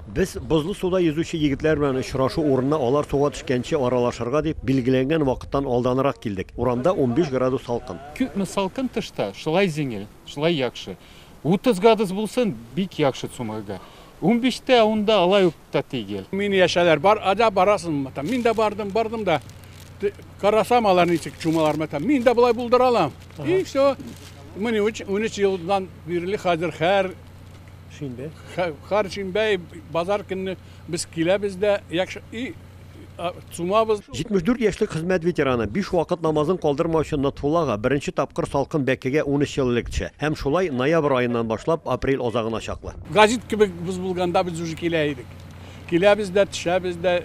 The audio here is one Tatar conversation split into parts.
Без бозлы суда йөзүче егетләр белән очрашу урынына алар суга төшкәнче аралашырга дип, билгеләнгән вакыттан алданрак килдек. Урамда унбиш градус салкын. Күпме салкын тышта, шулай җиңел, шулай яхшы. Утыз градус булсын, бик яхшы цумгырга. Унбиш тә, ун да алай ук та тигел. Мине яшәләр, бар, әллә барасыңмы там? Мин дә бардым, бардым да, карасам, алар ничек чумалармы там, мин дә болай булдыра алам. И все. Менә унөч елдан бирле хәзер һәр Шимбә. Хәр шимбә базар көнне без киләбез дә и сумабыз. 74 яшьлек хезмәт ветераны, биш вакыт намазын калдырмаучы Нотфулла ага беренче тапкыр салкын бәкегә 13 ел элек төшә. Һәм шулай ноябрь аеннан башлап апрель азагына чаклы. Гәзит кебек без булганда без уже килә идек. Киләбез дә, төшәбез дә.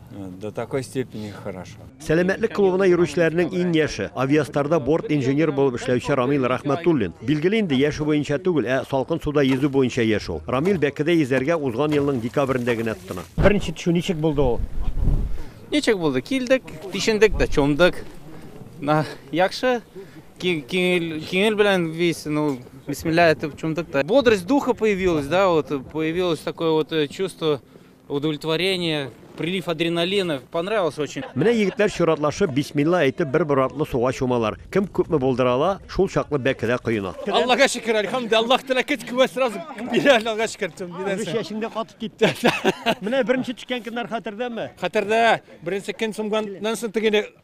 До такой степени хорошо. Сәламәтлек клубына йөрүчеләрнең иң яше, Авиастарда борт инженер булып эшләүче Рамил Рахматуллин. Билгеле инде, яше буенча түгел, ә салкын суда йөзү буенча яшь ул. Рамил бәкедә йөзәргә узган елның декабрендә генә тотына. Беренче төшү ничек булды ул? Ничек булды? Килдек, тишендек тә, чумдык. На, яхшы. Кинел белән весь, ну, бисмилля әйтеп чумдык та. Бодрость духа появилась, да, вот появилось такое вот э, чувство Удовлетворение, прилив адреналина, понравилось очень. Менә егетләр чиратлашып, бисмилла әйтеп, бер бер артлы суга чумалар. Кем күпме булдыра ала, шул чаклы бәкедә коена. Аллага шөкер, әлхәмдү, Аллаһ Тәгалә көч куәт сразу бирә, Аллага шөкер, тем Бер бирәсе. чәчеңдә катып китте. Менә беренче төшкән көннәр хәтердәме? Хәтердә, беренче көн сумганнан соң теге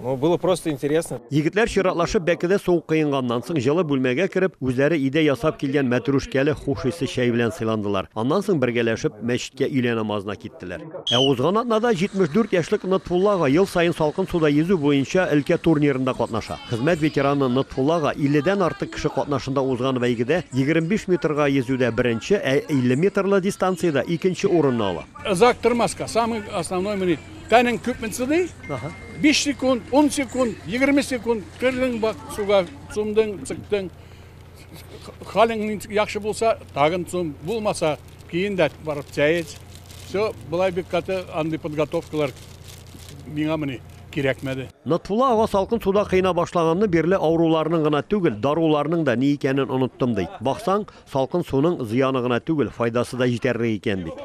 Ну, было просто интересно. Егетләр чиратлашып бәкедә сугып кыенганнан соң җылы бүлмәгә кереп, үзләре өйдә ясап килгән мәтрүшкәле хуш исле чәй белән сыйландылар. Аннан соң бергәләшеп мәчеткә өйлә намазына киттеләр. Ә узган атнада 74 яшьлек Нотфулла ага ел саен салкын суда йөзү буенча өлкә турнирында катнаша. Хезмәт ветераны Нотфулла ага 50 дән артык кеше катнашында узган бәйгедә 25 метрга йөзүдә беренче, ә 50 метрлы дистанциядә икенче урынны ала. Озак тормаска, самый основной мени. Тәнең күпме сыдый? Аха. 5 секунд, 10 секунд, 20 секунд кырдың бак суга, сумдың, сыктың. Халың яхшы булса, тагын сум, булмаса, кейін дә барып чәйец. Все, былай бик каты андый подготовкалар миңа мени кирәкмәде. Нотфула ага салкын суда кыйна башлаганны бирле авыруларның гына түгел, даруларның да ни икәнен оныттым ди. Баксаң, салкын суның зыяны гына түгел, файдасы да җитәрлек икән бит.